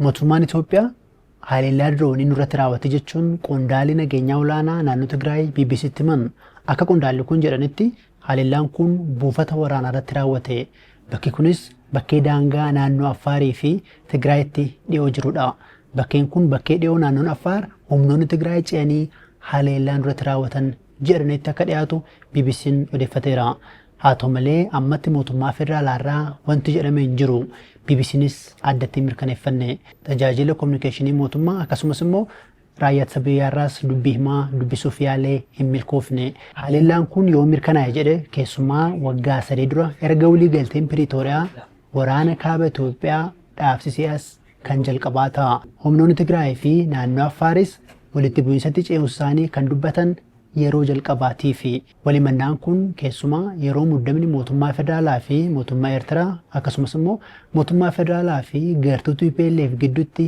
Mootummaan Itoophiyaa haleellaa diroonii nurratti raawwate jechuun qondaalli nageenyaa olaanaa naannoo Tigraay BBC'tti himan. Akka qondaalli kun jedhanitti haleellaan kun buufata waraanaa irratti raawwate. Bakki kunis bakkee daangaa naannoo Affaarii fi Tigraayitti dhiyoo jirudha. Bakkeen kun bakkee dhiyoo naannoon Affaar humnoonni Tigraay ce'anii haleellaa nurratti raawwatan jedhanetti akka dhiyaatu BBC'n odeeffateera. Haa ta'u malee ammatti mootummaa federaalaarraa wanti jedhame hin jiru. BBC'nis addatti hin mirkaneeffanne. Tajaajila kominikeeshinii mootummaa akkasumas immoo raayyaa ittisa biyyaarraas dubbii himaa dubbisuuf yaalee hin milkoofne. Haleellaan kun yoo mirkanaa'e jedhe keessumaa waggaa sadii dura erga waliigalteen Piriitooriyaa waraana kaaba Itoophiyaa dhaabsisee as kan jalqabaa ta'a. Humnoonni Tigraay fi naannoo Affaaris walitti bu'iinsatti ce'uusaanii kan dubbatan yeroo jalqabaatiifi. Walhimannaan kun keessumaa yeroo muddamni mootummaa federaalaa fi mootummaa Eertiraa akkasumas immoo mootummaa federaalaa fi gartuu tplf gidduutti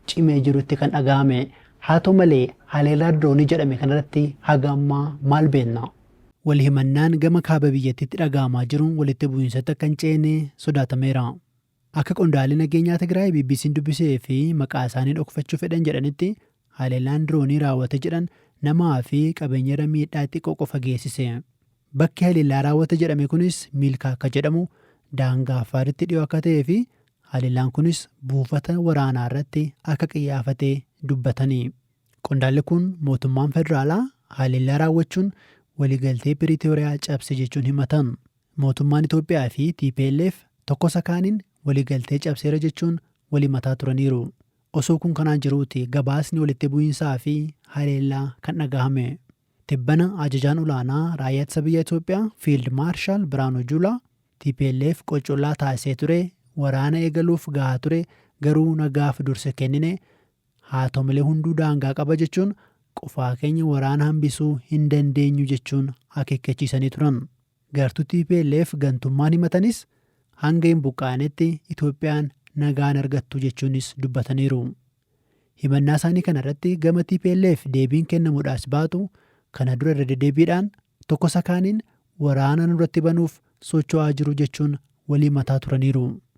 cimee jirutti kan dhaga'ame. Haa ta'u malee haleellaa diroonii jedhame kanarratti haga ammaa maal beekna? Walhimannaan gama kaaba biyyattiitti dhaga'amaa jiru walitti bu'iinsatti akka hin ceene sodaatameera. Akka qondaalli nageenyaa Tigraay BBC'n dubbise fi maqaasaanii dhokfachuu fedhan jedhanitti, haleellaan diroonii raawwate jedhan namaa fi qabeenyarra miidhaa xiqqoo qofa geessise. Bakki haleellaa raawwate jedhame kunis Miilkaa akka jedhamu, daangaa Affaaritti dhiyoo akka ta'ee fi haleellaan kunis buufata waraanaarratti akka qiyyaafate dubbatani. Qondaalli kun mootummaan federaalaa haleellaa raawwachuun waliigaltee Piriitooriyaa cabse jechuun himatan. Mootummaan Itoophiyaa fi tplf tokkosa kaaniin waliigaltee cabseera jechuun wal himataa turaniiru. Osoo kun kanaan jiruuti gabaasni walitti bu'iinsaa fi haleellaa kan dhagahame. Tibbana Ajajaan Olaanaa Raayyaa Ittisa Biyyaa Itoophiyaa Fiild Maarshaal Biraanuu Juulaa tplf qoccollaa taasisee ture, waraana eegaluuf gahaa ture garuu nagaaf dursa kennine, Haata'u malee hunduu daangaa qaba jechuun qofaa keenya waraana hambisuu hin dandeenyu jechuun akeekkachiisanii turan. Gartuu tplf gantummaan himatanis hanga hin buqqaanetti Itoophiyaan nagaa hin argattu jechuunis dubbataniiru. Himannaa isaanii kana irratti gama tplf deebiin kennamudhaas baatu kana dura irra dedebiidhaan tokkosa kaaniin waraana nurratti banuuf socho'aa jiru jechuun wal himataa turaniiru.